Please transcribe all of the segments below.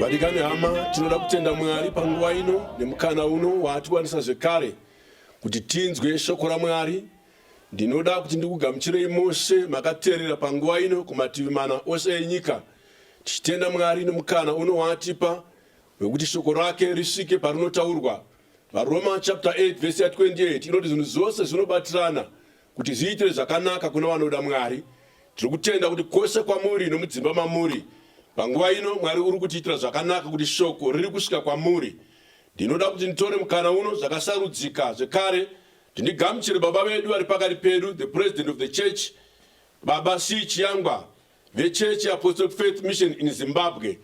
Vadikani hama, tinoda kutenda Mwari panguva ino nemukana uno waatiwanisa zvekare kuti tinzwe shoko raMwari. Ndinoda kuti ndikugamuchirei mose makateerera panguva ino kumativi mana ose enyika, tichitenda Mwari nemukana uno waatipa wekuti shoko rake risvike parinotaurwa. VaRoma chapter 8 verse 28 inoti zvinhu zvose zvinobatirana Kuti zviitire zvakanaka kuna vanoda Mwari, tiri kutenda kuti kwose kwamuri nomudzimba mamuri panguva ino Mwari uri kutiitira zvakanaka kuti shoko riri kusvika kwamuri. Ndinoda kuti nditore mukana uno zvakasarudzika zvekare tindigamuchire baba vedu vari pakati pedu, the president of the church, Baba C. Chiyangwa, VeChurch yeApostolic Faith Mission in Zimbabwe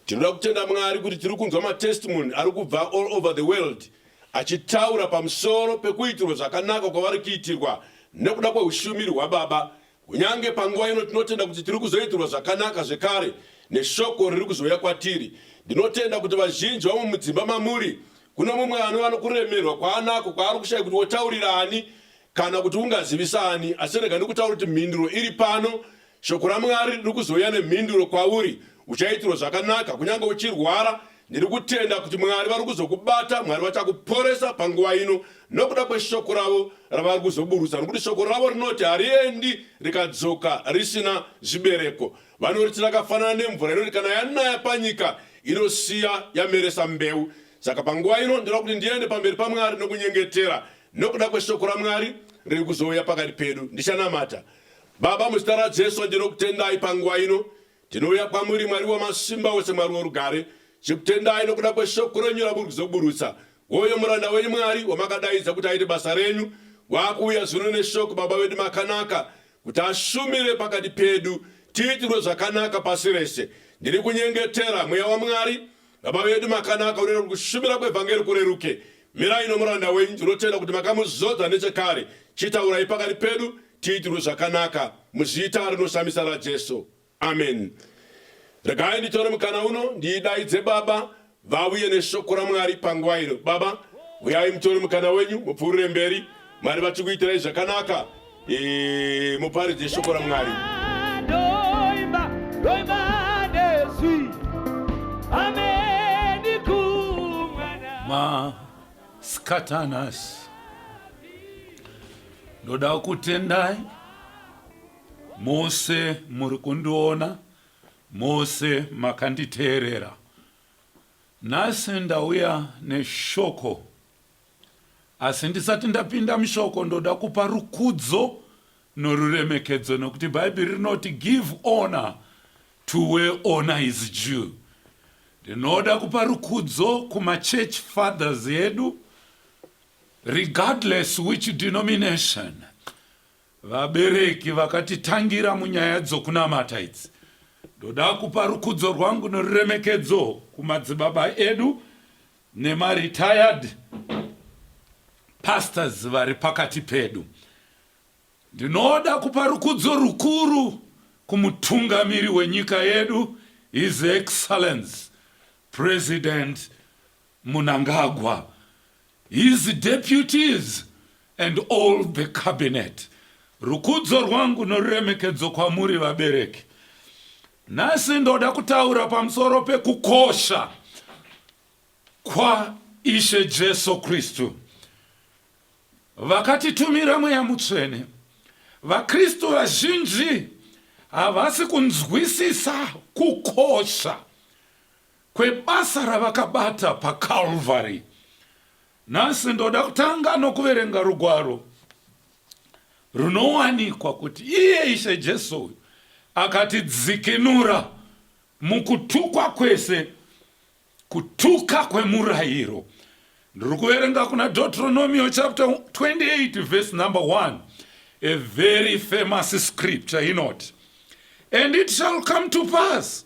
tinoda kutenda Mwari kuti tiri kunzwa matestimony ari kubva all over the world achitaura pamusoro pekuitirwa zvakanaka kwavari kuitirwa nekuda kweushumiri hwaBaba. Kunyange panguva ino tinotenda kuti tiri kuzoitirwa zvakanaka zvekare neshoko riri kuzouya kwatiri. Ndinotenda kuti vazhinji vamwe mudzimba mamuri kuno mumwe anova nokuremerwa kwaanako kwaari kushaya kuti wotaurira ani Kana kuti ungazivisa ani, asi rega ndikutaura kuti mhinduro iri pano. Shoko raMwari riri kuzouya nemhinduro kwauri. Uchaitirwa zvakanaka, kunyange uchirwara. Ndiri kutenda kuti Mwari vari kuzokubata, Mwari vachakuporesa panguva ino nokuda kweshoko ravo ravari kuzoburutsa, nokuti shoko ravo rinoti hariendi rikadzoka risina zvibereko. Vanoriti rakafanana nemvura inoti kana yanaya panyika inosiya yameresa mbeu. Saka panguva ino ndinoda kuti ndiende pamberi paMwari nokunyengetera Nokuda kweshoko raMwari riri kuzouya pakati pedu, ndichanamata. Baba, muzita raJesu ndinokutendai panguva ino. Tinouya kwamuri Mwari wamasimba ose, Mwari worugare. Chikutendai nokuda kweshoko renyu ramuri kuzoburutsa. Woyo muranda wenyu Mwari wamakadaidza kuti aite basa renyu, waakuuya zvino neshoko, Baba vedu makanaka, kuti ashumire pakati pedu, tiitirwe zvakanaka pasi rese. Ndiri kunyengetera Mweya waMwari Baba vedu makanaka unoita kuti kushumira kwevhangeri kureruke. Mirai nomuranda wenyu, tinotenda kuti makamuzodza nechekare. Chitaurai pakati pedu tiitirwe zvakanaka muzita rinoshamisa raJesu. Amen. Regai nditore mukana uno ndiidaidze Baba vauye neshoko raMwari panguva ino. Baba, uyai mutore mukana wenyu mupfuurire mberi Mwari vachikuitirai zvakanaka eh, muparidze shoko raMwari. Maskatanas ndoda kutendai mose muri kundiona mose makanditeerera nhasi ndauya neshoko Asi ndisati ndapinda mushoko ndoda kupa rukudzo noruremekedzo nokuti Bhaibheri rinoti give honor to where honor is due. Ndinoda kupa rukudzo kumachurch fathers edu regardless which denomination vabereki vakatitangira munyaya dzokunamata idzi ndoda kupa rukudzo rwangu noruremekedzo kumadzibaba edu nemaRetired pastors vari pakati pedu. Ndinoda kupa rukudzo rukuru kumutungamiri wenyika yedu His Excellence President Munangagwa, his deputies and all the cabinet. Rukudzo rwangu noruremekedzo kwamuri vabereki. Nhasi ndoda kutaura pamusoro pekukosha kwaIshe Jesu Kristu. Vakatitumira mweya mutsvene. VaKristu vazhinji havasi kunzwisisa kukosha kwebasa ravakabata paCalvary. Nhasi ndoda kutanga nokuverenga rugwaro runowanikwa kuti iye Ishe Jesu uyu akatidzikinura mukutukwa kwese, kutuka kwemurayiro. Ndiri kuverenga kuna Deuteronomio chapter 28 verse number 1, a very famous scripture inoti, And it shall come to pass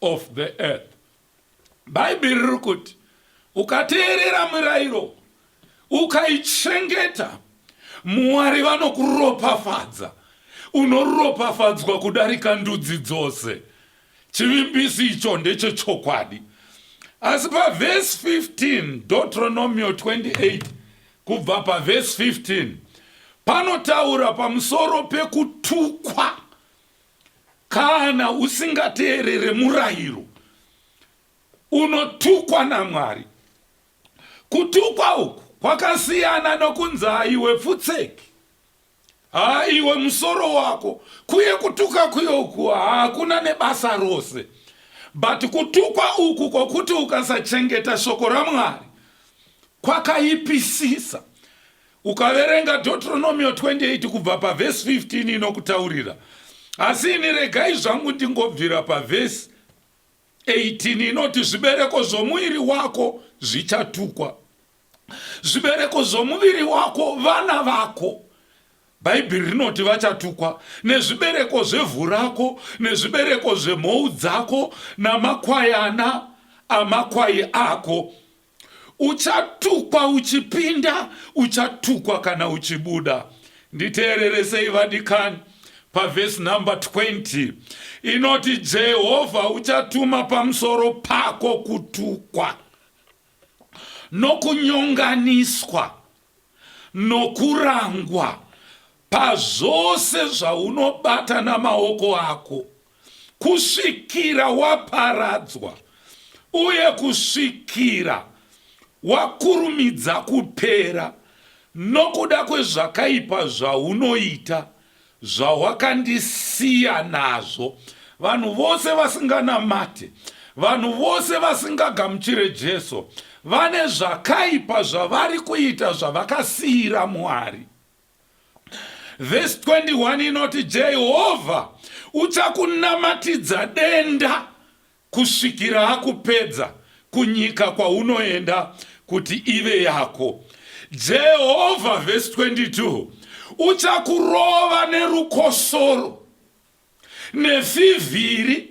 of the earth. Bhaibheri riri kuti ukateerera mirairo ukaichengeta, Mwari vanokuropafadza, unoropafadzwa kudarika ndudzi dzose. Chivimbisi icho ndechechokwadi. Asi pavhesi 15, Deuteronomio 28, kubva pavhesi 15 panotaura pamusoro pekutukwa Kana usingateerere murayiro unotukwa naMwari. Kutukwa uku kwakasiyana nokunzi aiwe pfutseki, haiwe musoro wako, kuye kutuka kuye uku hakuna nebasa rose. But kutukwa uku kwokuti ukasachengeta shoko raMwari kwakaipisisa. Ukaverenga Deuteronomio 28 kubva pavhesi 15 inokutaurira, asi ini regai zvangu ndingobvira pavhesi 18 inoti zvibereko zvomuiri wako zvichatukwa, zvibereko zvomuviri wako vana vako bhaibheri rinoti vachatukwa nezvibereko zvevhu rako nezvibereko zvemhou dzako namakwayana amakwai ako uchatukwa uchipinda uchatukwa kana uchibuda nditeerere sei vadikani pavhesi number 20 inoti jehovha uchatuma pamusoro pako kutukwa nokunyonganiswa nokurangwa pazvose zvaunobatana maoko ako kusvikira waparadzwa uye kusvikira wakurumidza kupera nokuda kwezvakaipa zvaunoita zvawakandisiya nazvo vanhu vose vasinganamate vanhu vose vasingagamuchire jesu vane zvakaipa zvavari kuita zvavakasiyira mwari Vhesi 21 inoti, Jehovha uchakunamatidza denda kusvikira akupedza kunyika kwaunoenda kuti ive yako. Jehovha, vhesi 22, uchakurova nerukosoro, nefivhiri,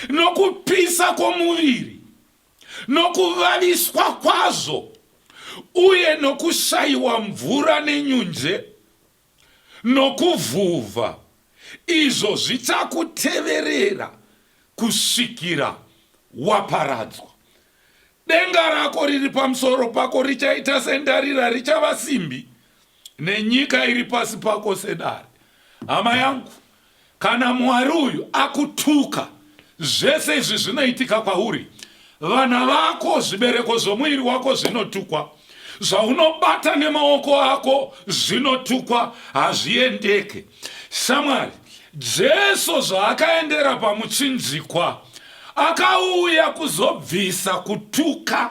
nokupisa kwomuviri. Nokuvaviswa kwazvo uye nokushaiwa mvura nenyunje nokuvhuvha, izvo zvichakuteverera kusvikira waparadzwa. Denga rako riri pamusoro pako richaita sendarira, richava simbi, nenyika iri pasi pako sedare. Hama yangu, Kana Mwari uyu akutuka, zvese izvi zvinoitika kwauri. Vana vako, zvibereko zvomuiri wako zvinotukwa. Zvaunobata nemaoko ako zvinotukwa, hazviendeke. Shamwari, Jesu zvaakaendera pamuchinjikwa, akauya kuzobvisa kutuka.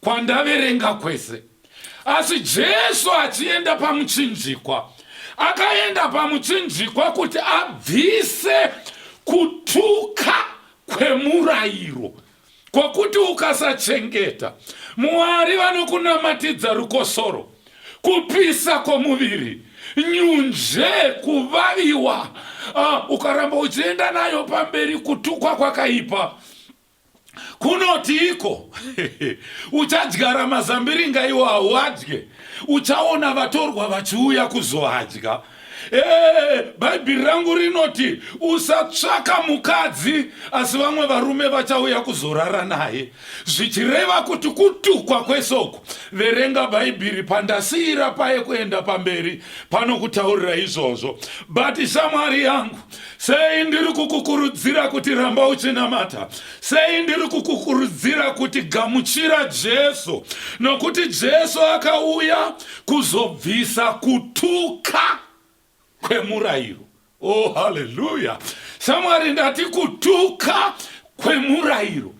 kwandaverenga kwese. Asi Jesu achienda pamuchinjikwa, akaenda pamuchinjikwa kuti abvise kutuka kwemurayiro kwokuti ukasachengeta Mwari vanokunamatidza rukosoro, kupisa kwomuviri, nyunje, kuvaviwa, uh, ukaramba uchienda nayo pamberi kutukwa kwakaipa. kunotiiko uchadyara mazambiringa iwo hauadye uchaona vatorwa vachiuya kuzoadya ee bhaibheri rangu rinoti usatsvaka mukadzi asi vamwe varume vachauya kuzorara naye zvichireva kuti kutukwa kwesoko verenga bhaibheri pandasiira paye kuenda pamberi panokutaurira izvozvo bati shamwari yangu sei ndiri kukukurudzira kuti ramba uchinamata sei ndiri kukukurudzira kuti gamuchira jesu nokuti jesu akauya kuzobvisa kutuka kwemurayiro oh haleluya shamwari ndati kutuka kwemurayiro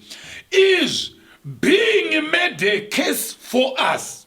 izvi being made a case for us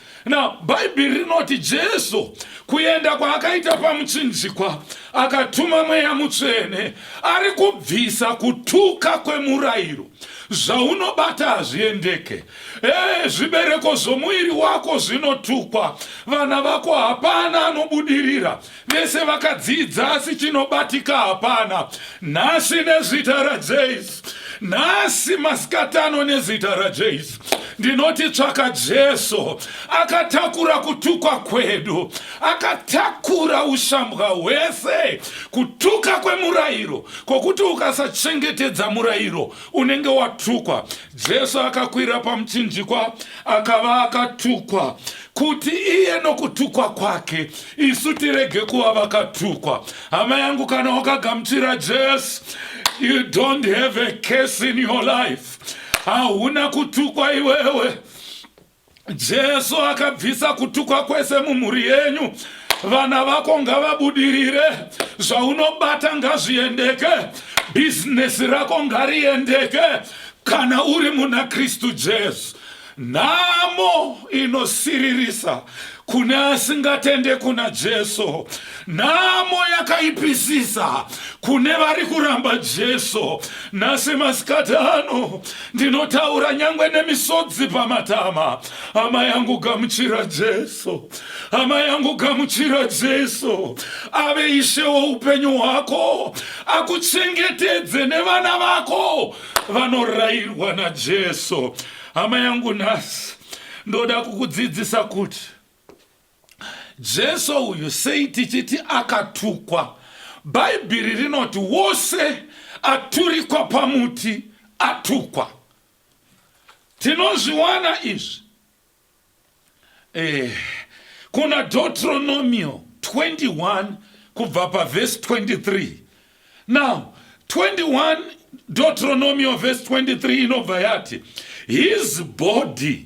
Now, Bhaibheri rinoti Jesu kuenda kwaakaita pamuchinjikwa akatuma mweya mutsvene ari kubvisa kutuka kwemurayiro zvaunobata hazviendeke ee zvibereko zvomuviri wako zvinotukwa vana vako hapana anobudirira vese vakadzidza asi chinobatika hapana nhasi nezita rajesu nhasi masikatano nezita rajesu ndinoti tsvaka jesu akatakura kutukwa kwedu akatakura ushambwa hwese kutuka kwemurayiro kwokuti ukasachengetedza murayiro unenge watukwa Jesu akakwira pamuchinjikwa akava akatukwa kuti iye nokutukwa kwake isu tirege kuva vakatukwa. Hama yangu, kana wakagamuchira Jesu, you don't have a case in your life. Hauna kutukwa iwewe. Jesu akabvisa kutukwa kwese mumhuri yenyu vana vako ngavabudirire zvaunobata ngazviendeke bhizinesi rako ngariendeke kana uri muna kristu jesu nhamo inosiririsa kune asingatende kuna jesu Nhamo yakaipisisa kune vari kuramba Jesu nhasi masikati ano. Ndinotaura nyangwe nemisodzi pamatama. Hama yangu gamuchira Jesu, hama yangu gamuchira Jesu. Ave ishe woupenyu hwako, akuchengetedze nevana vako vanorayirwa naJesu. Hama yangu nhasi ndoda kukudzidzisa kuti Jesu uyu sei tichiti akatukwa? Bhaibheri rinoti wose aturikwa pamuti atukwa. Tinozviwana izvi eh, kuna Deuteronomio 21 kubva pavhesi 23 now 21 Deuteronomio vhesi 23 inobva yati his body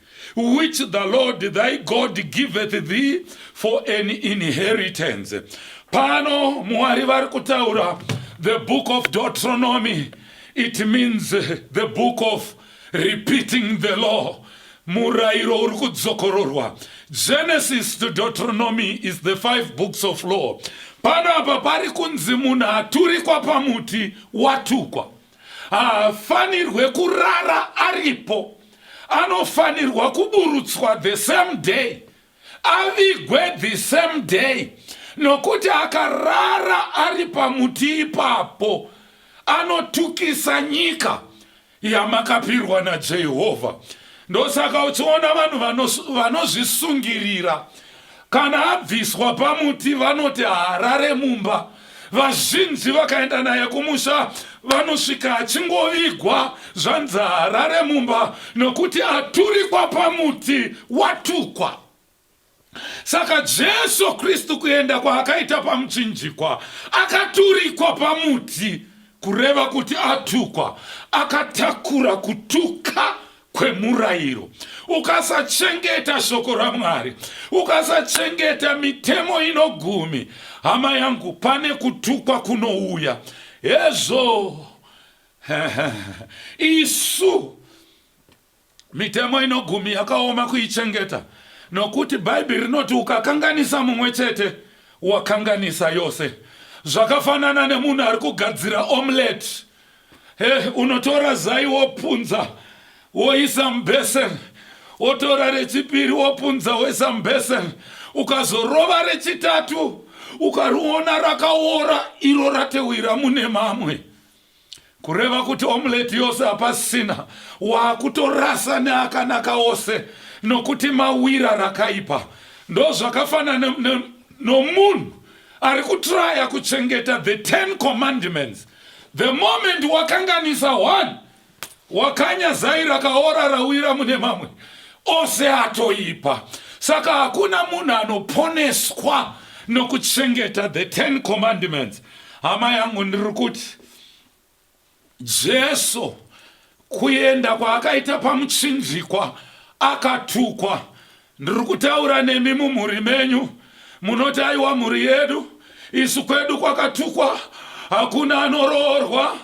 which the Lord thy God giveth thee for an inheritance. Pano Mwari vari kutaura the book of Deuteronomy. It means the book of repeating the law. Murairo uri kudzokororwa. Genesis to Deuteronomy is the five books of law. Pano apa pari kunzi munhu aturikwa pamuti watukwa. haafanirwe kurara aripo anofanirwa kuburutswa the same day avigwe the same day nokuti akarara ari pamuti ipapo anotukisa nyika yamakapirwa najehovha ndosaka uchiona vanhu vanozvisungirira Kana abviswa pamuti vanoti haarare mumba. Vazhinji vakaenda naye kumusha vanosvika achingovigwa zvanzi haarare mumba nokuti aturikwa pamuti watukwa. Saka Jesu Kristu kuenda kwaakaita pamuchinjikwa akaturikwa pamuti kureva kuti atukwa, akatakura kutuka kwemurayiro ukasachengeta shoko ramwari ukasachengeta mitemo inogumi hama yangu pane kutukwa kunouya hezvo isu mitemo inogumi yakaoma kuichengeta nokuti bhaibheri rinoti ukakanganisa mumwe chete wakanganisa yose zvakafanana nemunhu ari kugadzira omelette He, unotora zai wopunza woisa mubheseni wotora rechipiri wopunza woisa mubheseni ukazorova rechitatu ukariona rakaora iro ratewira mune mamwe kureva kuti omuleti yose hapasisina waakutorasa neakanaka ose nokuti mawira rakaipa ndozvakafanana nomunhu ari kutraya kuchengeta the ten commandments The moment wakanganisa one wakanya zai rakaora rawira mune mamwe ose atoipa saka hakuna munhu anoponeswa nokuchengeta the ten commandments hama yangu ndiri kuti jesu kuenda kwaakaita pamuchinjikwa akatukwa Ndiri kutaura nemi mumhuri menyu munoti aiwa mhuri yedu isu kwedu kwakatukwa hakuna anoroorwa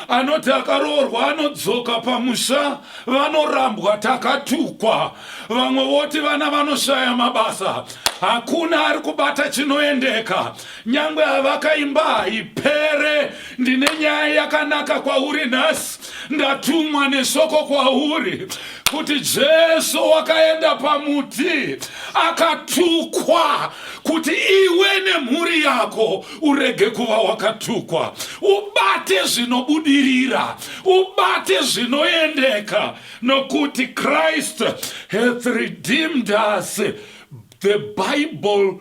anoti akaroorwa anodzoka pamusha vanorambwa takatukwa vamwe voti vana vanoshaya mabasa hakuna ari kubata chinoendeka Nyangwe havaka imba haipere. Ndine nyaya yakanaka kwauri nhasi. Ndatumwa nesoko kwauri kuti Jesu wakaenda pamuti akatukwa kuti iwe nemhuri yako urege kuva wakatukwa. Ubate zvinobudirira, ubate zvinoendeka nokuti Christ hath redeemed us. The Bible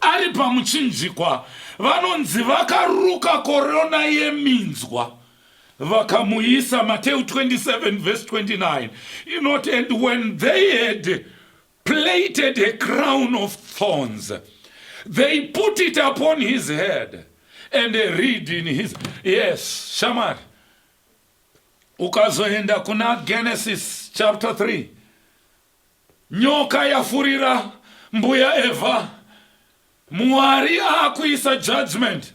Ari pamuchinjikwa vanonzi vakaruka korona yeminzwa vakamuisa. Mateu 27 verse 29 inoti and when they had plaited a crown of thorns they put it upon his head and a reed in his yes shamari ukazoenda kuna genesis chapter 3 Nyoka yafurira mbuya Eva. Mwari akuisa judgment.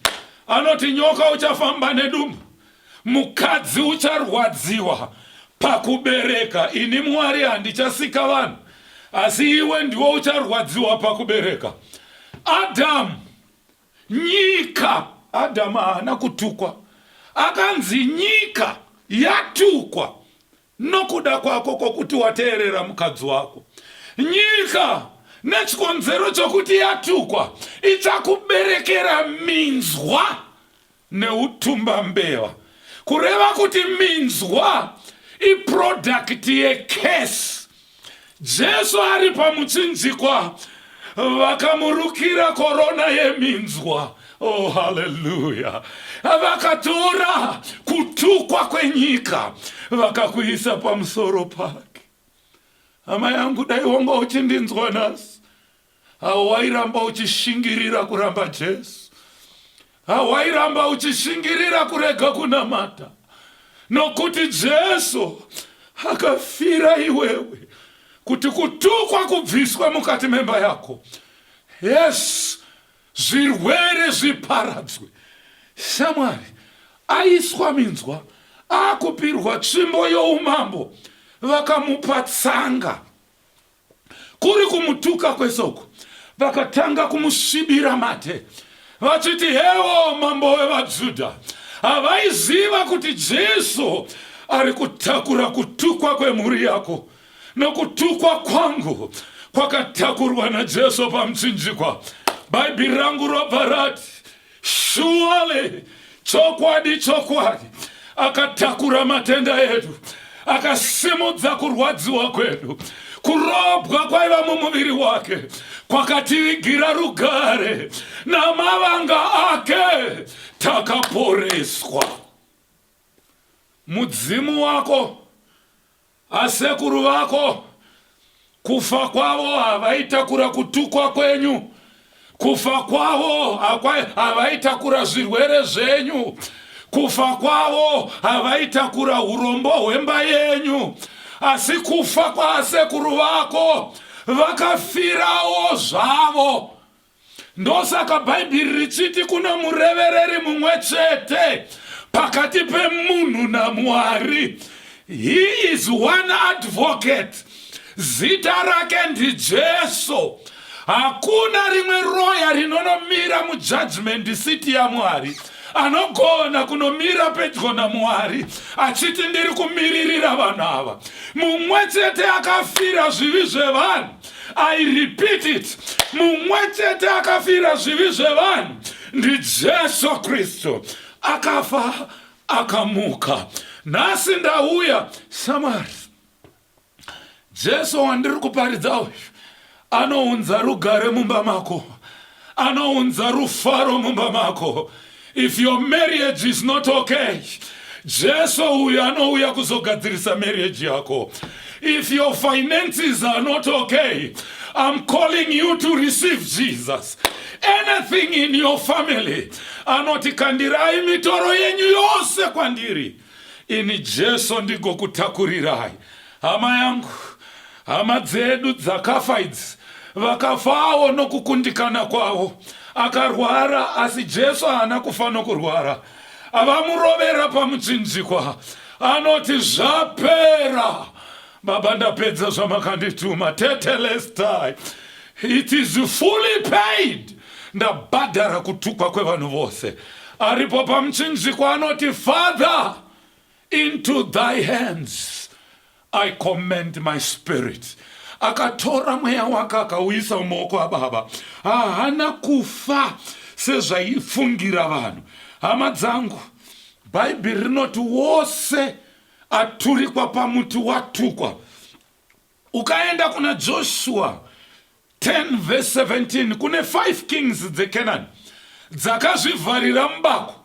Anoti nyoka uchafamba nedumbu. Mukadzi ucharwadziwa pakubereka. Ini Mwari handichasika vanhu. Asi iwe ndiwo ucharwadziwa pakubereka. Adam, nyika. Adam haana kutukwa. Akanzi nyika yatukwa. Nokuda kwako kwokuti wateerera mukadzi wako, nyika, nechikonzero chokuti yatukwa, ichakuberekera minzwa neutumbambeva. Kureva kuti minzwa iprodhakiti yecurse. Jesu ari pamuchinjikwa vakamurukira korona yeminzwa oh haleluya vakatora kutukwa kwenyika vakakuisa pamusoro pake hama yangu dai wanga uchindinzwa nhasi Hawairamba uchishingirira kuramba Jesu. Hawairamba uchishingirira kurega kunamata. Nokuti Jesu akafira iwewe kuti kutukwa kubviswe mukati memba yako. Yes, zvirwere zviparadzwe. Shamwari aiswa minzwa akupirwa tsvimbo youmambo vakamupa tsanga. kuri kumutuka kwese uku vakatanga kumusvibira mate vachiti hewo mambo wevajudha havaiziva kuti jesu ari kutakura kutukwa kwemhuri yako nokutukwa kwangu kwakatakurwa najesu pamuchinjikwa bhaibheri rangu robva rati Surely, chokwadi chokwadi akatakura matenda edu akasimudza kurwadziwa kwedu kurobwa kwaiva mumuviri wake kwakativigira rugare namavanga ake takaporeswa mudzimu wako Haa sekuru vako kufa kwavo havaitakura kutukwa kwenyu kufa kwavo havaitakura zvirwere zvenyu kufa kwavo havaitakura urombo hwemba yenyu asi kufa kwaasekuru vako vakafirawo zvavo Ndosaka Bhaibheri richiti kuno murevereri mumwe chete pakati pemunhu naMwari. He is one advocate. Zita rake ndiJesu. Hakuna rimwe roya rinonomira mujudgment seat yaMwari. anogona kunomira pedyo namwari achiti ndiri kumiririra vanhu ava mumwe chete akafira zvivi zvevanhu i repeat it mumwe chete akafira zvivi zvevanhu ndijesu kristu akafa akamuka nhasi ndauya samari jesu wandiri kuparidza uyu anounza rugare mumba mako anounza rufaro mumba mako if your marriage is not okay jesu uyu anouya kuzogadzirisa marriage yako if your finances are not okay i'm calling you to receive jesus anything in your family anoti kandirai mitoro yenyu yose kwandiri Ini Jesu ndigokutakurirayi hama yangu. Hama dzedu dzakafa idzi vakafawo nokukundikana kwavo. Akarwara asi Jesu haana kufa nokurwara. Avamurovera pamuchinjikwa anoti zvapera. Baba ndapedza zvamakandituma tete lestai it is fully paid ndabhadhara kutukwa kwevanhu vose aripo pamuchinjikwa anoti father into thy hands i commend my spirit akatora mweya wake akauisa mumaoko ababa haana kufa sezvaifungira vanhu hama dzangu bhaibheri rinoti wose aturikwa pamuti watukwa ukaenda kuna joshua 10 verse 17 kune 5 kings dzecanani dzakazvivharira mubako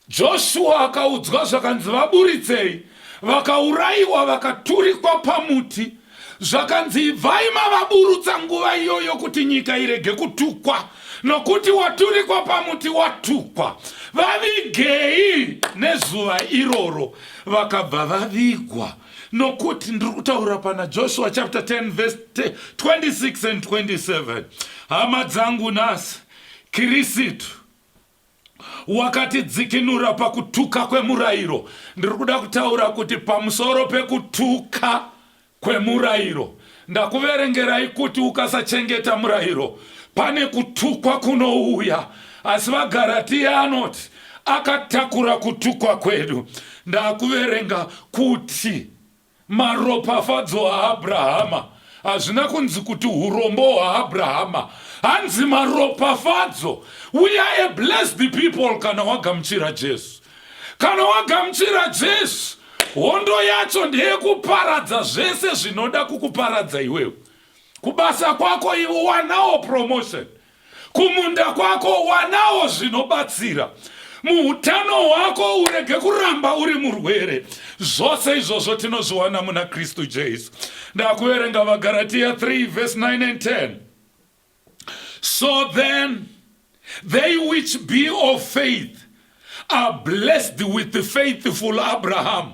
joshua akaudzwa zvakanzi vaburitsei vakaurayiwa vakaturikwa pamuti Zvakanzi ibvai mavaburutsa nguva iyoyo kuti nyika irege kutukwa, nokuti waturikwa pamuti watukwa. Vavigei nezuva iroro. Vakabva vavigwa. Nokuti ndiri kutaura pana Joshua chapter 10 verse 26 and 27. Hama dzangu nhasi, Kirisitu wakatidzikinura pakutuka kwemurairo ndiri kuda kutaura kuti pamusoro pekutuka kwemurairo ndakuverengerai kuti ukasachengeta murairo pane kutukwa kunouya asi vagaratiya anoti akatakura kutukwa kwedu ndakuverenga kuti Maropafadzo aAbrahama. Hazvina kunzi kuti hurombo hwaAbrahama. Hanzi maropafadzo. We are a blessed people kana wagamuchira Jesu. Kana wagamuchira Jesu, hondo yacho ndeyekuparadza zvese zvinoda kukuparadza iwewe. Kubasa kwako iwe wanawo promotion. Kumunda kwako wanawo zvinobatsira muutano hwako urege kuramba uri murwere zvose izvozvo tinozviwana muna kristu jesu ndakuverenga vagaratiya 3 vhesi 9 and 10 so then they which be of faith are blessed with faithful abraham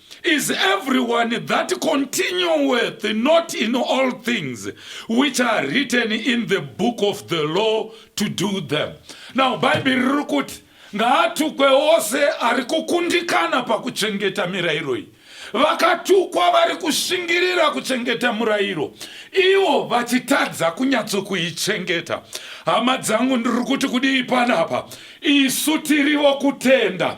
is everyone that continueth not in all things which are written in the book of the law to do them. Now Bible riri kuti ngaatukwe ose ari kukundikana pakuchengeta mirairo iyi. Vakatukwa vari kushingirira kuchengeta murairo, ivo vachitadza kunyatsokuichengeta. Hama dzangu, ndiri kuti kudii panapa? Isu tirivo kutenda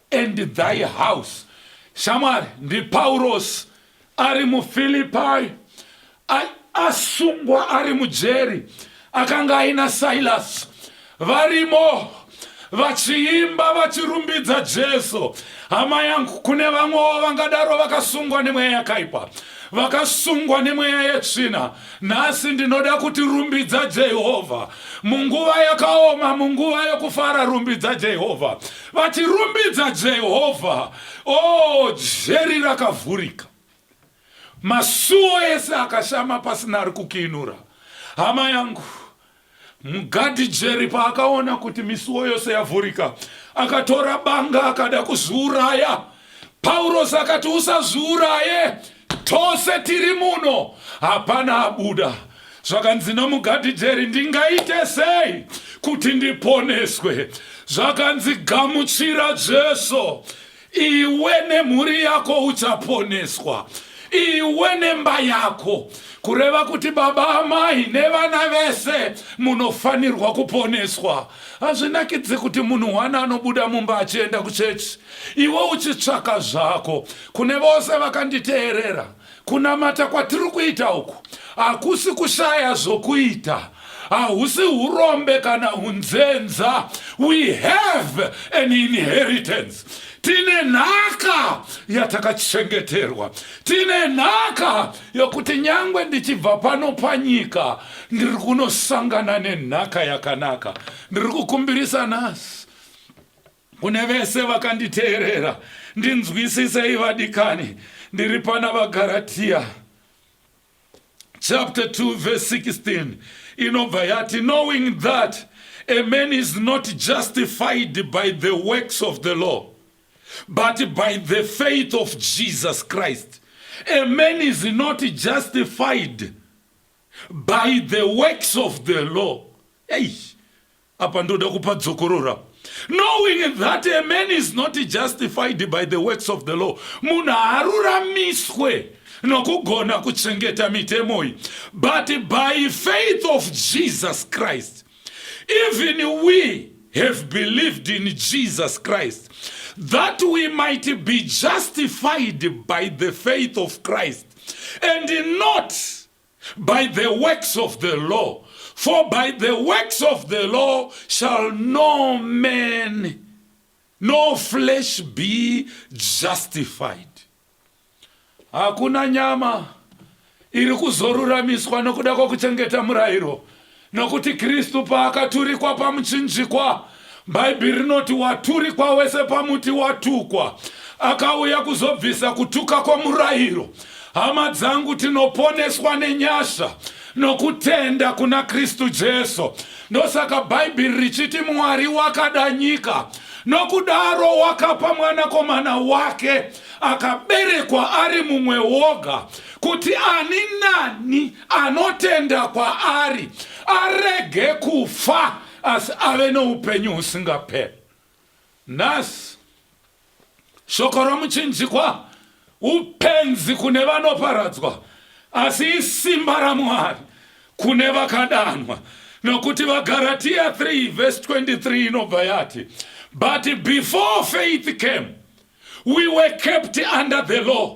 and thy house. Shamwari, ndiPaurosi ari muFilipai, asungwa ari mujeri, akanga aina Silasi varimo vachiimba vachirumbidza Jesu. Hama yangu, kune vamwewo vangadaro vakasungwa nemweya yakaipa, vakasungwa nemweya yetsvina, Nhasi ndinoda kuti rumbidza Jehovha. Munguva yakaoma, munguva yokufara, rumbidza Jehovha. Vati, rumbidza Jehovha. O, oh, jeri rakavhurika. Masuo ese akashama pasina ari kukiinura. Hama yangu, Mugadhi Jerry paakaona kuti misuwo yose yavhurika, akatora banga akada kuzviuraya. Paurosi akati, Usazviuraye, tose tiri muno, hapana abuda. Zvakanzi namugadhi Jerry, Ndingaite sei kuti ndiponeswe? Zvakanzi, Gamuchira Jesu. iwe nemhuri yako uchaponeswa iwe nemba yako kureva kuti baba amai nevana vese munofanirwa kuponeswa hazvinakidzi kuti munhu wani anobuda mumba achienda kuchechi iwe uchitsvaka zvako kune vose vakanditeerera Kunamata kwatiri kuita uku hakusi kushaya zvokuita, hahusi urombe kana unzenza. We have an inheritance. Tine nhaka yatakachengeterwa, tine nhaka yokuti nyangwe ndichibva pano panyika ndiri kunosangana nenhaka yakanaka. Ndiri kukumbirisa nhasi Kune vese vakanditeerera, ndinzwisisei vadikani, ndiri pana vaGaratia chapter 2 verse 16 inobva yati knowing that a man is not justified by the works of the law but by the faith of Jesus Christ a man is not justified by the works of the law hey. Apa ndoda kupa dzokorora knowing that a man is not justified by the works of the law munhu haaruramiswe nokugona kuchengeta mitemo iyi but by faith of jesus christ even we have believed in jesus christ that we might be justified by the faith of christ and not By the works of the law, for by the works of the law shall no man, no flesh be justified. Hakuna nyama iri kuzoruramiswa nokuda kwokuchengeta murayiro, Nokuti Kristu paakaturikwa pamuchinjikwa, Bhaibheri rinoti waturikwa wese pamuti watukwa, akauya kuzobvisa kutuka kwomurayiro. Hama dzangu, tinoponeswa nenyasha nokutenda kuna Kristu Jesu. Ndosaka Bhaibheri richiti Mwari wakada nyika nokudaro wakapa mwanakomana wake akaberekwa ari mumwe woga kuti ani nani anotenda kwaari arege kufa asi ave noupenyu husingaperi nhasi shoko romuchinjikwa upenzi kune vanoparadzwa asi isimba ramwari kune vakadanwa nokuti vagaratiya 3 vhesi 23 inobva yati but before faith came we were kept under the law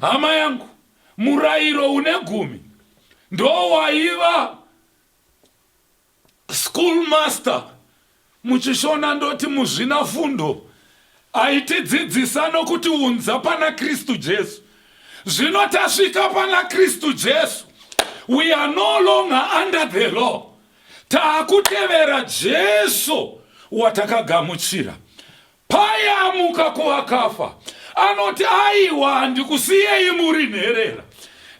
Hama yangu, murairo une gumi ndowaiva school master muchishona ndoti muzvina fundo aitidzidzisa nokuti unza pana kristu jesu zvino tasvika pana kristu jesu we are no longer under the law taakutevera jesu watakagamuchira Paye amuka kuvakafa, anoti, Aiwa, handikusiyei muri nherera,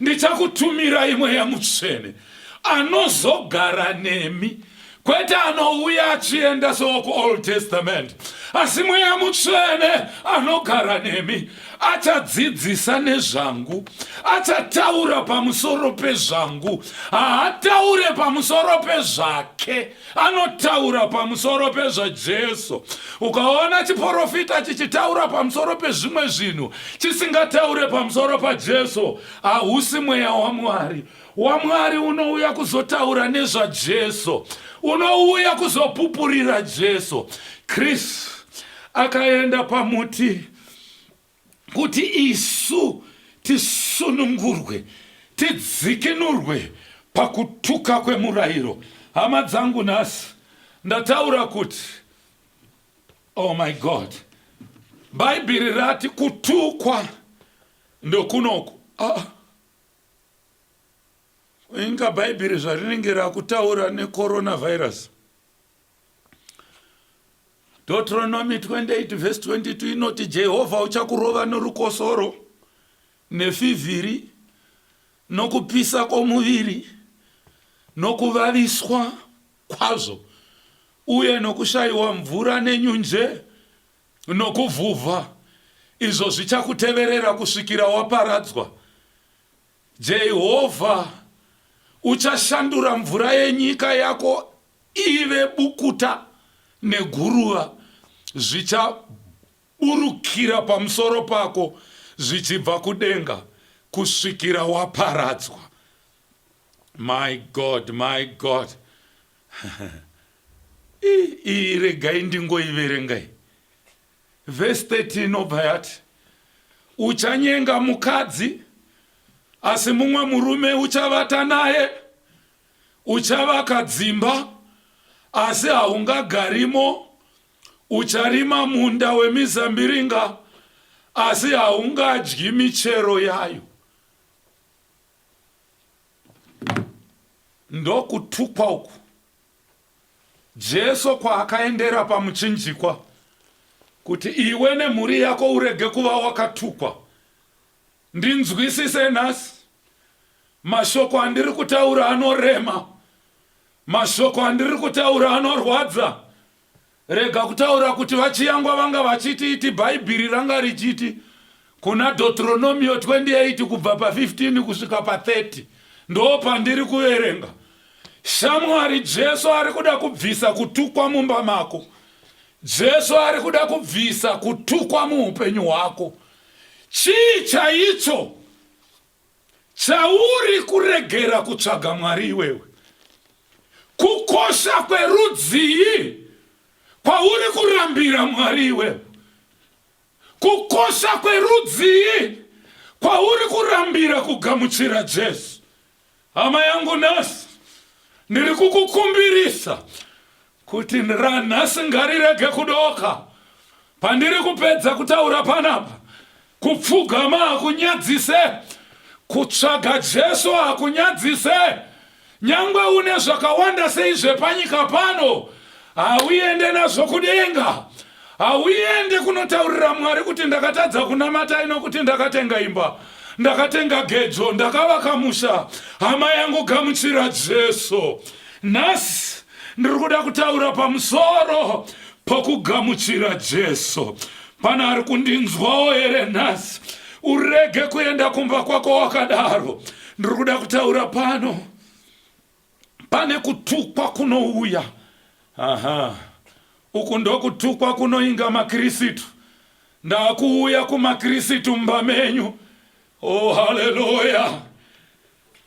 ndichakutumirai Mweya Mutsvene, anozogara nemi kwete anouya achienda sookuold testament asi mweya mutsvene anogara nemi achadzidzisa nezvangu achataura pamusoro pezvangu haataure pamusoro pezvake anotaura pamusoro pezvajesu ukaona chiprofita chichitaura pamusoro pezvimwe zvinhu chisingataure pamusoro pajesu hausi mweya wamwari wamwari unouya kuzotaura nezvajesu unouya kuzopupurira jesu kristu akaenda pamuti kuti isu tisunungurwe, tidzikinurwe pakutuka kwemurairo. Hama dzangu, nhasi ndataura kuti, oh my God, Bhaibheri rati kutukwa ndokunoku. Ah, inga Bhaibheri zvarinenge rakutaura necoronavirus. deuteronomy 28 vhesi 22 inoti jehovha uchakurova norukosoro nefivhiri nokupisa kwomuviri nokuvaviswa kwazvo uye nokushayiwa mvura nenyunje nokuvhuvha izvo zvichakuteverera kusvikira waparadzwa jehovha uchashandura mvura yenyika yako Ive bukuta neguruva zvichaburukira pamusoro pako zvichibva kudenga kusvikira waparadzwa. My God, my God. Iyi regai ndingoiverengai. Verse 13 inobva yati, uchanyenga mukadzi asi mumwe murume uchavata naye Uchavaka dzimba, asi haungagarimo, ucharima munda wemizambiringa, asi haungadyi michero yayo. Ndokutukwa uku Jesu kwaakaendera pamuchinjikwa kuti iwe nemhuri yako urege kuva wakatukwa. Ndinzwisise nhasi. Mashoko andiri kutaura anorema. Mashoko andiri kutaura anorwadza. Rega kutaura kuti vachiyangwa vanga vachiti iti Bhaibhiri ranga richiti kuna Deuteronomio 28 kubva pa 15 kusvika pa 30 ndoo pandiri kuverenga. Shamwari Jesu ari kuda kubvisa kutukwa mumba mako. Jesu ari kuda kubvisa kutukwa muupenyu hwako. Chii chaicho chauri kuregera kutsvaga Mwari iwewe? Kukosha kwerudzii kwauri kurambira Mwari iwewe? Kukosha kwerudzii kwauri kurambira kugamuchira Jesu? Hama yangu nhasi ndiri kukukumbirisa kuti ranhasi ngarirege kudoka pandiri kupedza kutaura panapa kupfugama hakunyadzise kutsvaga jesu hakunyadzise nyangwe une zvakawanda sei zvepanyika pano Hauende nazvo kudenga. Hauende kunotaurira Mwari kuti ndakatadza kunamata ino kuti ndakatenga imba. Ndakatenga gejo, ndakavaka musha. Hama yangu gamuchira Jesu. Nhasi ndiri kuda kutaura pamusoro pokugamuchira Jesu. Pane ari kundinzwawo here nhasi? Urege kuenda kumba kwako wakadaro. Ndiri kuda kutaura pano. Pane kutukwa kunouya. Aha. Uku ndokutukwa kunoinga maKirisitu. Ndakuuya kumaKirisitu mumba menyu. Oh, haleluya.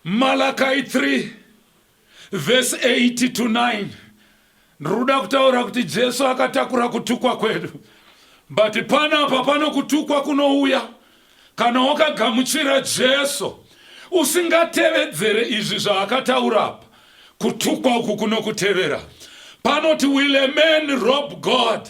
Malakai 3 verse 8 to 9. Ndruda kutaura kuti Jesu akatakura kutukwa kwedu. But panapa pano kutukwa kunouya kana wakagamuchira Jesu usingatevedzere izvi zvaakataura apa. Kutukwa uku kunokutevera. Panoti will a man rob God?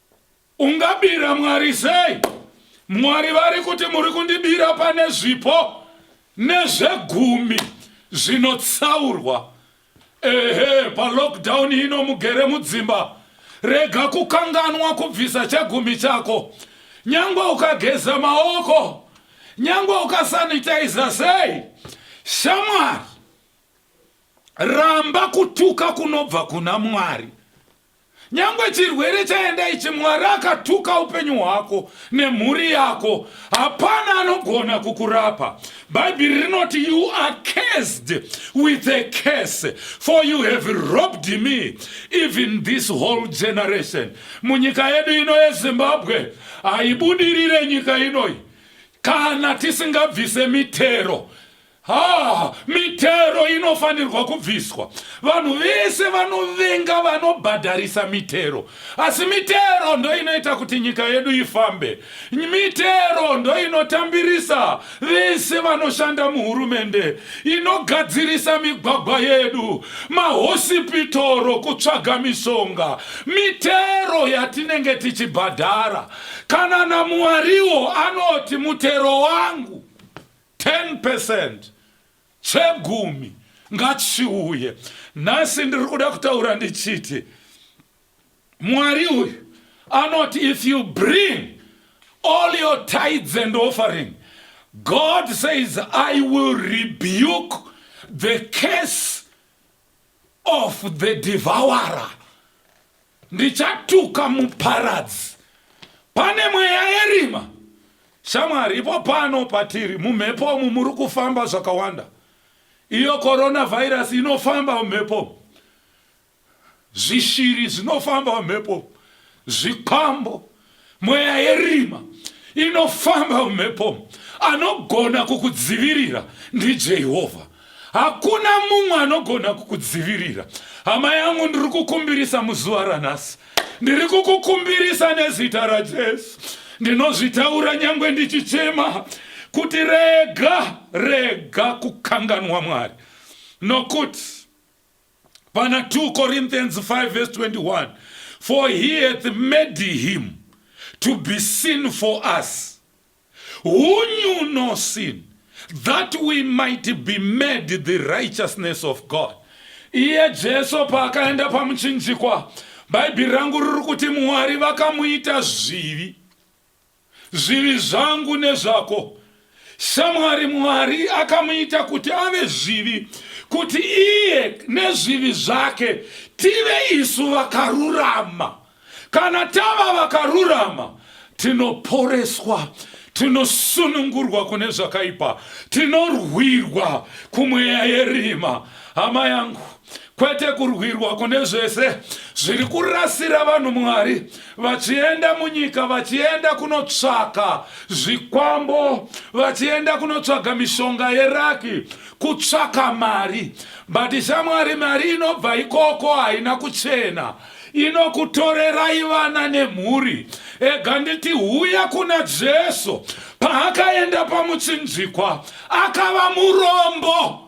Ungabira Mwari sei? Mwari vari kuti muri kundibira pane zvipo nezvegumi zvinotsaurwa. Ehe, palockdown ino mugere mudzimba, rega kukanganwa kubvisa chegumi chako. Nyangwe ukageza maoko, nyangwe ukasanitiza sei, shamwari, ramba kutuka kunobva kuna Mwari. Nyangwe chirwere chaenda ichi Mwari akatuka upenyu hwako nemhuri yako hapana anogona kukurapa. Bhaibheri rinoti you are cursed with a curse for you have robbed me even this whole generation. Munyika yedu ino yeZimbabwe haibudirire nyika inoi kana tisingabvise mitero Haa, mitero inofanirwa kubviswa. Vanhu vese vanovenga vanobhadharisa mitero. Asi mitero ndoinoita kuti nyika yedu ifambe. Mitero ndoinotambirisa vese vanoshanda muhurumende, inogadzirisa migwagwa yedu, mahosipitoro, kutsvaga mishonga. Mitero yatinenge tichibhadhara. Kana naMuwariwo anoti mutero wangu. 10 percent chegumi ngachiuye nhasi ndiri kuda kutaura ndichiti mwari uyu anoti if you bring all your tides and offering god says i will rebuke the case of the devourer Ndichatuka muparadzi pane mweya yerima. Shamwari, ipo pano patiri mumhepo umu muri kufamba zvakawanda. Iyo coronavirus inofamba mumhepo, zvishiri zvinofamba mumhepo, zvikwambo Mweya yerima inofamba mumhepo anogona kukudzivirira ndiJehovha. Hakuna mumwe anogona kukudzivirira. Hama yangu, ndiri kukumbirisa muzuva ranhasi, ndiri kukukumbirisa nezita raJesu, ndinozvitaura nyangwe ndichichema kuti rega rega kukanganwa Mwari nokuti pana 2 corinthians 5 vs 21 for he hath made him to be sin for us who knew no sin that we might be made the righteousness of god iye jesu paakaenda pamuchinjikwa bhaibheri rangu riri kuti mwari vakamuita zvivi Zvivi zvangu nezvako. Shamwari Mwari akamuita kuti ave zvivi kuti iye nezvivi zvake tive isu vakarurama. Kana tava vakarurama tinoporeswa tinosunungurwa kune zvakaipa tinorwirwa kumweya yerima hama yangu kwete kurwirwa kune zvese zviri kurasira vanhu mwari vachienda munyika vachienda kunotsvaka zvikwambo vachienda kunotsvaga mishonga yeraki kutsvaka mari but shamwari mari inobva ikoko haina kuchena inokutorerai vana nemhuri ega nditi huya kuna jesu paakaenda pamuchinjikwa akava murombo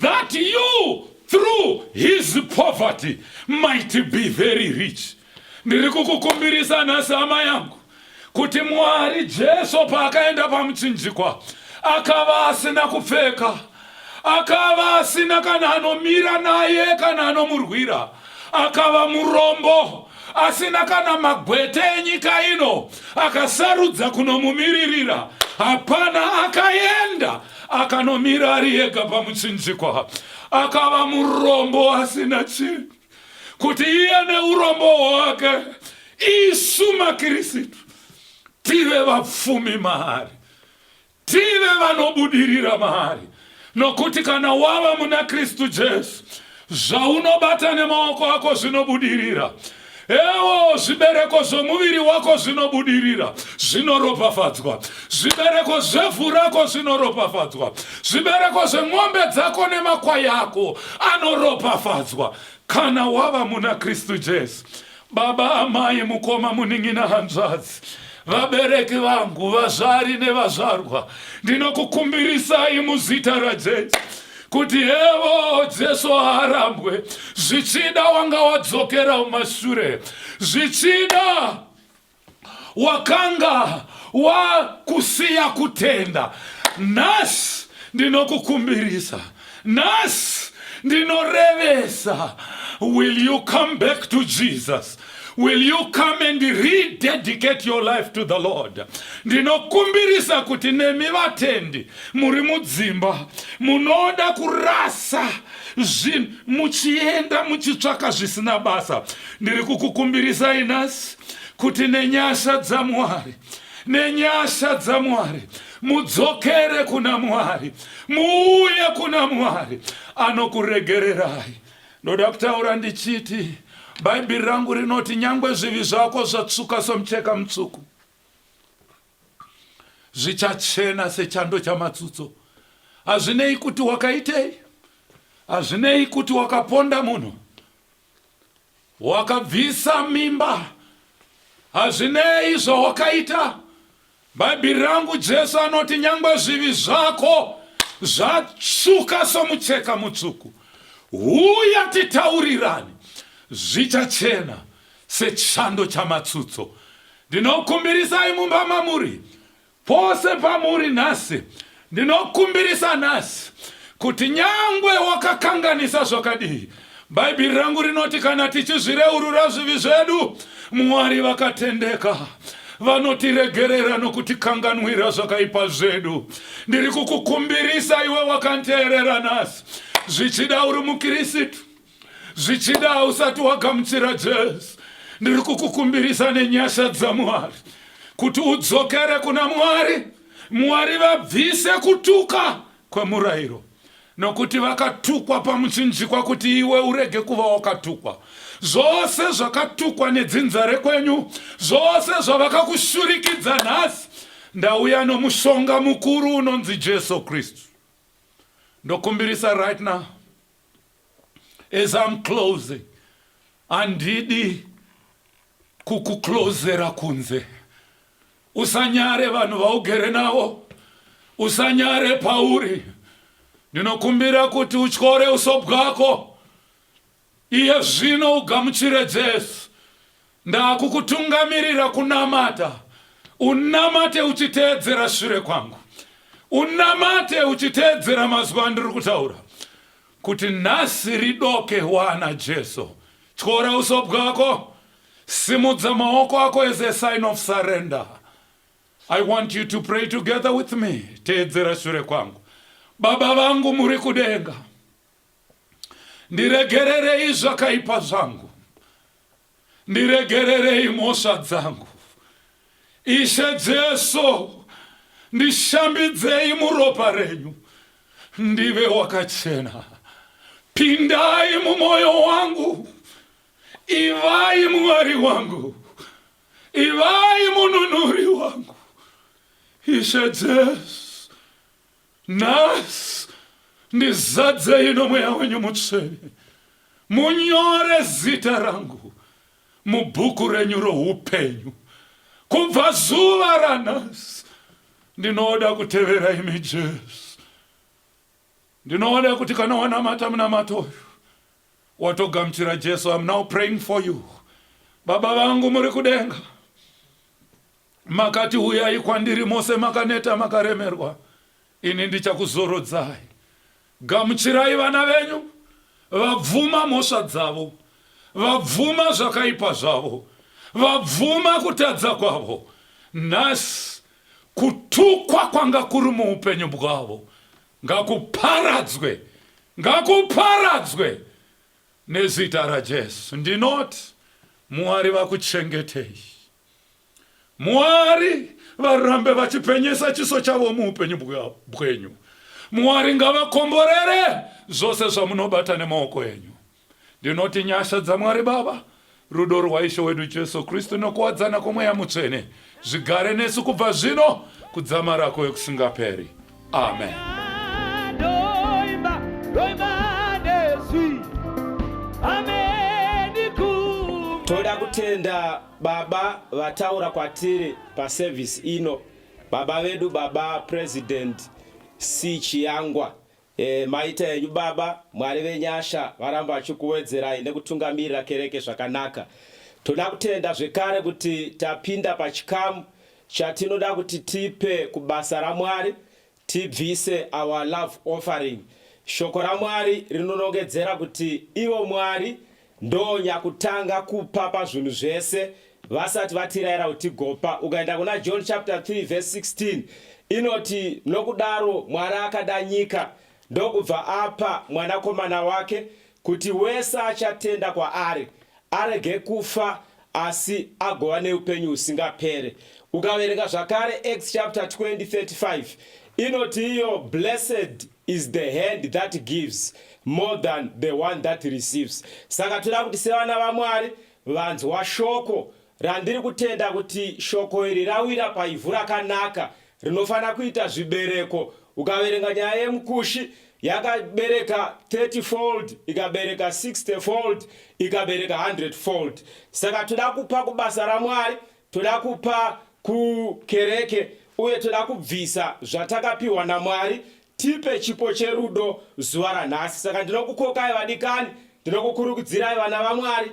that you through his poverty might be very rich ndiri kukukumbirisa nhasi hama yangu kuti mwari jesu paakaenda pamuchinjikwa akava asina kupfeka akava asina kana anomira naye kana anomurwira akava murombo asina kana magwete enyika ino akasarudza kunomumiririra hapana akaenda Akanomira ari ega pamutsinjikwa, akava murombo asina chinhu, kuti iye neurombo hwake isu maKirisitu tive vapfumi maari, tive vanobudirira maari, nokuti kana wava muna Kristu Jesu Zvaunobata nemaoko ako zvinobudirira. Ewo zvibereko zvomuviri wako zvinobudirira, zvinoropafadzwa. Zvibereko zvevhu rako zvinoropafadzwa. Zvibereko zvemombe dzako nemakwai ako anoropafadzwa kana wava muna Kristu Jesu. Baba, amai, mukoma, munin'ina, hanzvadzi, vabereki vangu, vazvari nevazvarwa, ndinokukumbirisai muzita raJesu kuti hevo Jesu haarambwe, zvichida wanga wadzokera mumashure, zvichida wakanga wakusiya kutenda nhasi ndinokukumbirisa nhasi ndinorevesa will you come back to jesus will you come and rededicate your life to the lord ndinokumbirisa kuti nemi vatendi muri mudzimba munoda kurasa zvinhu muchienda muchitsvaka zvisina basa ndiri kukukumbirisai nhasi kuti nenyasha dzamwari nenyasha dzamwari mudzokere kuna mwari muuye kuna mwari anokuregererai ndoda kutaura ndichiti bhaibheri rangu rinoti nyangwe zvivi zvako zvatsvuka somucheka mutsvuku zvichachena sechando chamatsutso hazvinei kuti wakaitei hazvinei kuti wakaponda munhu Wakabvisa mimba hazvinei zvawakaita. Bhaibheri rangu Jesu anoti nyangwe zvivi zvako zvatsvuka somucheka mutsvuku, huya titaurirane, zvichachena sechando chamatsutso. Ndinokumbirisai mumba mamuri Pose pamuri nhasi, ndinokumbirisa nhasi kuti nyangwe wakakanganisa zvakadii, Bhaibheri rangu rinoti kana tichizvireurura zvivi zvedu, Mwari vakatendeka vanotiregerera nokutikanganwira zvakaipa zvedu. Ndiri kukukumbirisa iwe wakanteerera nhasi, zvichida uri muKirisitu, zvichida usati wagamuchira jesu ndiri kukukumbirisa nenyasha dzamwari kuti udzokere kuna mwari mwari vabvise kutuka kwemurayiro nokuti vakatukwa pamuchinjikwa kuti iwe urege kuva wakatukwa zvose zvakatukwa nedzinza rekwenyu zvose zvavakakushurikidza nhasi ndauya nomushonga mukuru unonzi jesu kristu ndokumbirisa right now as I'm closing handidi kukuklozera kunze usanyare vanhu vaugere navo usanyare pauri ndinokumbira kuti utyore uso bwako iye zvino ugamuchire jesu Ndakukutungamirira kunamata, unamate uchiteedzera shure kwangu. Unamate uchiteedzera mazwi andiri kutaura. Kuti nhasi ridoke wana Jesu. Tyora uso bwako. Simudza maoko ako as a sign of surrender. I want you to pray together with me. Teedzera shure kwangu. Baba vangu muri kudenga. Ndiregererei zvakaipa zvangu, ndiregererei mhosva dzangu. Ishe Jesu, ndishambidzei muropa renyu, ndive wakachena. Pindai mumwoyo wangu, ivai Mwari wangu, ivai mununuri wangu. Ishe Jesu, Nhasi ndizadzei nomweya wenyu mutsvene, munyore zita rangu mubhuku renyu roupenyu. Kubva zuva ranhasi ndinoda kutevera imi Jesu. Ndinoda kuti kana wanamata munamato uyu watogamuchira Jesu. I'm now praying for you. Baba vangu muri kudenga. Makati, Uyai kwandiri mose makaneta makaremerwa, ini ndichakuzorodzai. Gamuchirai vana venyu vabvuma mhosva dzavo, vabvuma zvakaipa zvavo, vabvuma kutadza kwavo. Nhasi kutukwa kwanga kuri muupenyu bwavo ngakuparadzwe, ngakuparadzwe nezita raJesu. Ndinoti Mwari vakuchengetei. Mwari varambe vachipenyesa chiso chavo muupenyu bwenyu. Mwari ngavakomborere zvose zvamunobata nemaoko enyu. Ndinoti nyasha dzaMwari Baba, rudo rwaIshe wedu Jesu Kristu nokuwadzana kwomweya mutsvene zvigare nesu kubva zvino kudzamara kwekusingaperi. amen ndoimba ndoimba nezwi ameni ku toda kutenda baba vataura kwatiri paservice ino baba vedu baba president c chiyangwa e, maita enyu baba mwari venyasha varamba vachikuwedzerai nekutungamirira kereke zvakanaka toda kutenda zvekare kuti tapinda pachikamu Chatinoda kuti tipe kubasa raMwari tibvise our love offering. Shoko raMwari rinonongedzera kuti ivo Mwari ndonyakutanga kupa pazvinhu zvese vasati vatiraira kuti tigopa. Ukaenda kuna John chapter 3 verse 16 inoti nokudaro Mwari akada nyika ndokubva apa mwanakomana wake Kuti wese achatenda kwaari arege kufa asi agova neupenyu husingapere. Ukaverenga zvakare Acts chapter 20 35 inoti iyo blessed is the hand that gives more than the one that receives. Saka toda kuti sevana vaMwari vanzwa shoko randiri kutenda kuti shoko iri rawira paivhu rakanaka Rinofanira kuita zvibereko. Ukaverenga nyaya yemukushi yakabereka 30 fold ikabereka 60 fold ikabereka 100 fold saka toda kupa kubasa ramwari toda kupa kukereke uye toda kubvisa zvatakapiwa namwari tipe chipo cherudo zuva ranhasi saka ndinokukokai vadikani ndinokukurukudzirai vana vamwari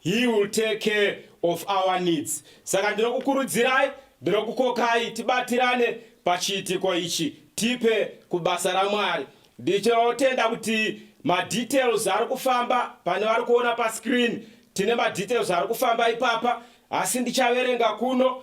He will take care of our needs. Saka ndinokukurudzirai, ndinokukokai tibatirane pachiitiko ichi tipe kubasa raMwari. Ndichinotenda kuti madetails ari kufamba pane vari kuona pascreen. Tine madetails ari kufamba ipapa asi ndichaverenga kuno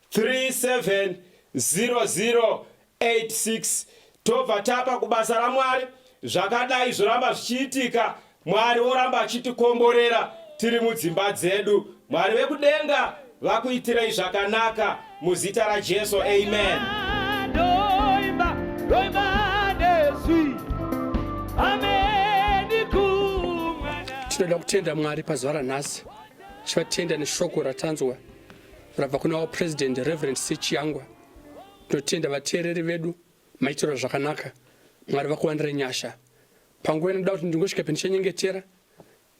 370086 tobva tapa kubasa ramwari zvakadai zvoramba zvichiitika mwari woramba achitikomborera tiri mudzimba dzedu mwari vekudenga vakuitirei zvakanaka muzita rajesu amen doimba, doimba, tinoda kutenda mwari pazuva ranhasi tichivatenda neshoko ratanzwa Rabva kuna our president Reverend Sechiyangwa. Tinotenda vateereri vedu maitirwa zvakanaka. Mwari vakuwanire nyasha. Panguva inoda kuti ndingosvika pendichanyengetera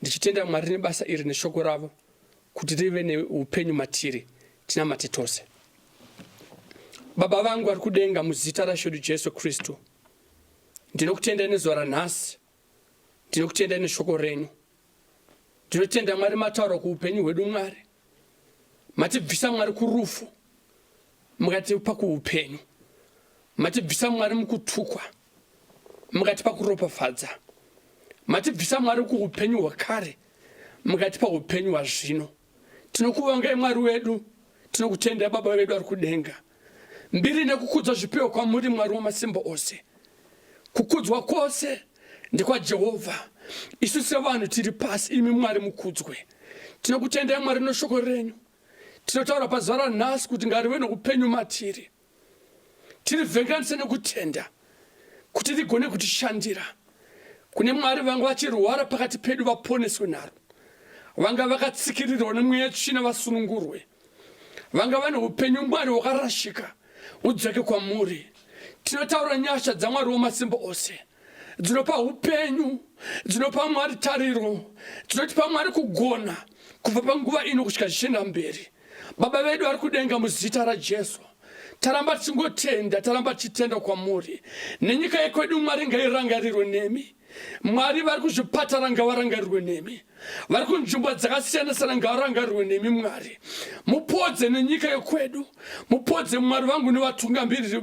ndichitenda Mwari nebasa iri neshoko ravo kuti rive neupenyu matiri tinamate tose. Baba vangu vari kudenga muzita raShedu Jesu Kristu. Ndinokutendai nezuva ranhasi Tinokutendai neshoko renyu. Tinotenda Mwari mataura kuupenyu hwedu Mwari. Matibvisa Mwari kurufu. Mukatipa kuupenyu. Matibvisa Mwari mukutukwa. Mukatipa kuropafadza. Matibvisa Mwari kuupenyu hwakare. Mukatipa upenyu hwazvino. Tinokuvongai Mwari wedu, tinokutendai Baba vedu vari kudenga. Mbiri nekukudzwa zvipiwe kwamuri Mwari wamasimba ose. Kukudzwa kwose ndekwaJehovha. Isu sevanhu tiri pasi, imi Mwari mukudzwe. Tinokutendai Mwari neshoko renyu. Tinotaura pazuva ranhasi kuti ngarive nokupenyu matiri. Tirivhenganise nokutenda kuti rigone kutishandira. Kune Mwari vanga vachirwara pakati pedu vaponeswe naro. Vanga vakatsikirirwa nemweya tsvina vasunungurwe. Vanga vane upenyu Mwari hwakarashika udzake kwamuri. Tinotaura nyasha dzaMwari wamasimba ose. dzinopa upenyu, dzinopa Mwari tariro, dzinotipa Mwari kugona kubva panguva ino kusvika zvichienda mberi. Baba vedu vari kudenga, muzita raJesu taramba tichingotenda, taramba tichitenda kwamuri. Nenyika yekwedu Mwari ngairangarirwe nemi. Mwari vari kuzvipatara ngavarangarirwe nemi. vari kunzvimbo dzakasiyana sana ngarangarirwe nemi mwari mupodze nenyika yekwedu mupodze mwari vangu nevatungamiriri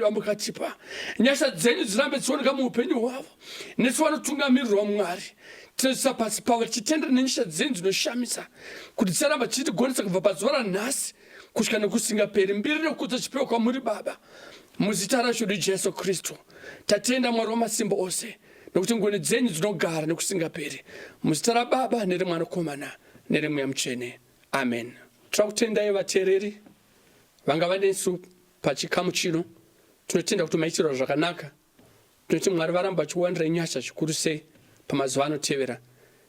vamukatipa nyasha dzenyu dzirambe dzichioneka muupenyu hwavo nesu vanotungamirirwa mwari tinoisa pasi pavo tichitenda nenyasha dzenyu dzinoshamisa kuti dzicharamba tichitigonesa kubva pazuva ranhasi kusvika nekusingaperi mbiri nekudza chipewa kwamuri baba muzita rashodu jesu kristu tatenda mwari wamasimba ose nokuti ngoni dzenyu dzinogara nekusingaperi muzita rababa neremwanakomana neremweya mutsvene amen tinoda kutendai vateereri vanga vanesu pachikamu chino tinotenda kuti maitirwa zvakanaka tinoti mwari varamba vachiwandirai nyasha zvikuru sei pamazuva anotevera